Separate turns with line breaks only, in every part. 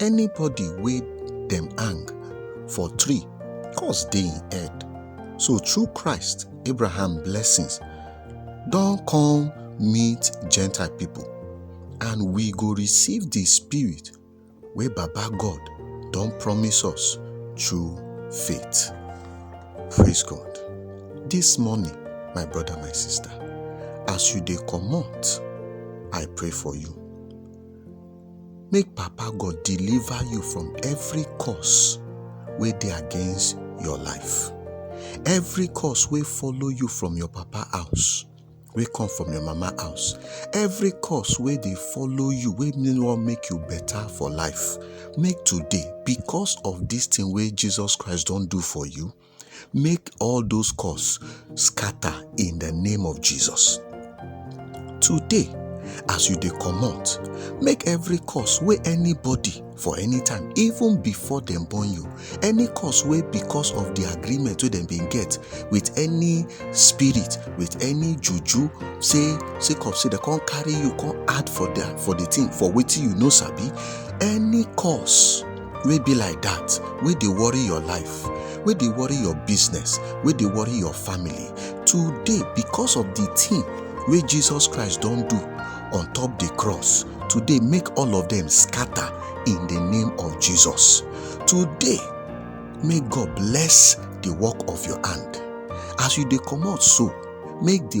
anybody wey dem hang for tree cause dey im head so through christ abraham blessings don come meet gentile people and we go receive the spirit wey baba god don promise us through faith praise god this morning my brother my sister as you dey comot i pray for you make papa god deliver you from every curse wey dey against your life every curse wey follow you from your papa house wey come from your mama house every curse wey dey follow you wey no wan make you better for life make today because of this thing wey jesus christ don do for you Make all those curse scatter in the name of Jesus. Today, as you dey comot, make every curse wey anybody for any time, even before dem born you, any curse wey because of the agreement wey dem bin get with any spirit, with any juju, say sake of say dem come carry you come add for the for the thing for wetin you no sabi, any curse wey be like dat wey dey worry your life wey dey worry your business wey dey worry your family today because of the thing wey jesus christ don do on top the cross today make all of them scatter in the name of jesus today may god bless the work of your hand as you dey comot so make the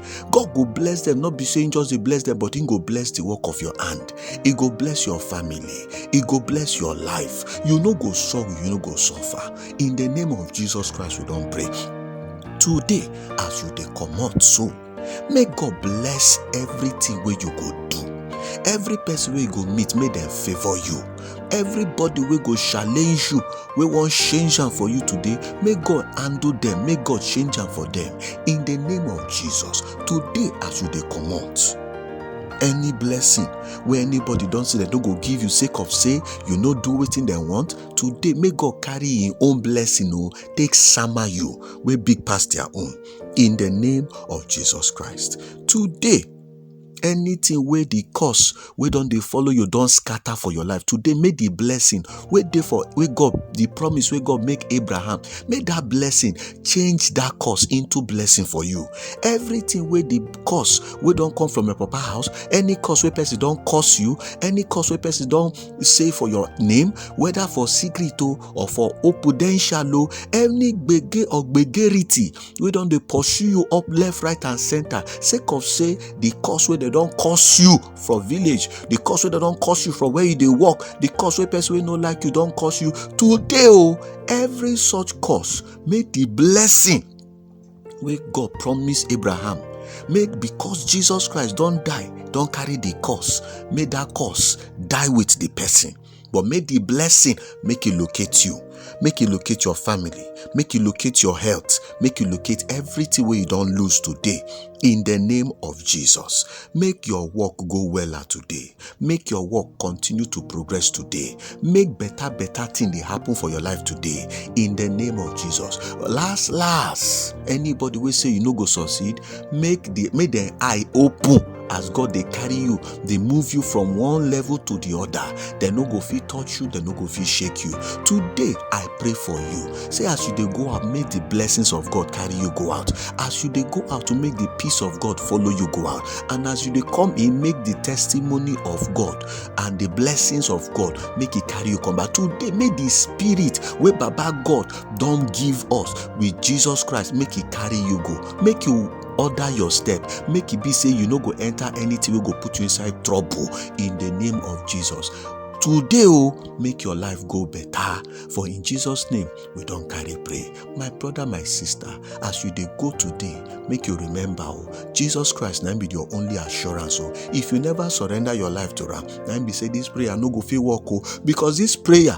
god go bless them not be saying just dey bless them but he go bless the work of your hand he go bless your family he go bless your life you no go sorrow you no go suffer in the name of jesus christ we don pray today as you dey comot so make god bless everything wey you go do every person wey you go meet make dem favour you everybody wey go challenge you wey wan change am for you today make god handle dem make god change am for dem in the name of jesus today as you dey comot any blessing wey anybody don say dem no go give you sake of say you no do wetin dem want today make god carry him own blessing o take sama you wey big pass their own in the name of jesus christ today anything wey the curse wey don dey follow you don scatter for your life today make the blessing wey dey for wey god the promise wey god make abraham make that blessing change that curse into blessing for you everything wey the curse wey don come from your papa house any curse wey person don curse you any curse wey person don say for your name whether for secret o or for opudential o any gbege or gbegerity wey don dey pursue you up left right and center sake of say the cause wey dem don cause you for village the cause wey dem don cause you from where you dey work the cause wey person wey no like you don cause you today o oh, every such cause make the blessing wey god promise abraham make because jesus christ don die don carry the cause make that cause die with the person but make the blessing make e locate you make e locate your family make e locate your health make e locate everything wey you don lose today in the name of jesus make your work go weller today make your work continue to progress today make better better thing dey happen for your life today in the name of jesus last last anybody wey say you no go succeed make the make dem eye open as god dey carry you dey move you from one level to the other dem no go fit touch you dem no go fit shake you today i pray for you say as you dey go out make the blessings of god carry you go out as you dey go out to make the peace of god follow you go out and as you dey come in make the testimony of god and the blessings of god make e carry you come back today make the spirit wey baba god don give us with jesus christ make e carry you go make you order your step make e be say you no go enter anything wey go put you inside trouble in the name of jesus today o oh, make your life go better for in jesus name we don carry pray my brother my sister as you dey go today make you remember o oh, jesus christ na be your only assurance o oh. if you never surrender your life to am na be say this prayer no go fit work o because this prayer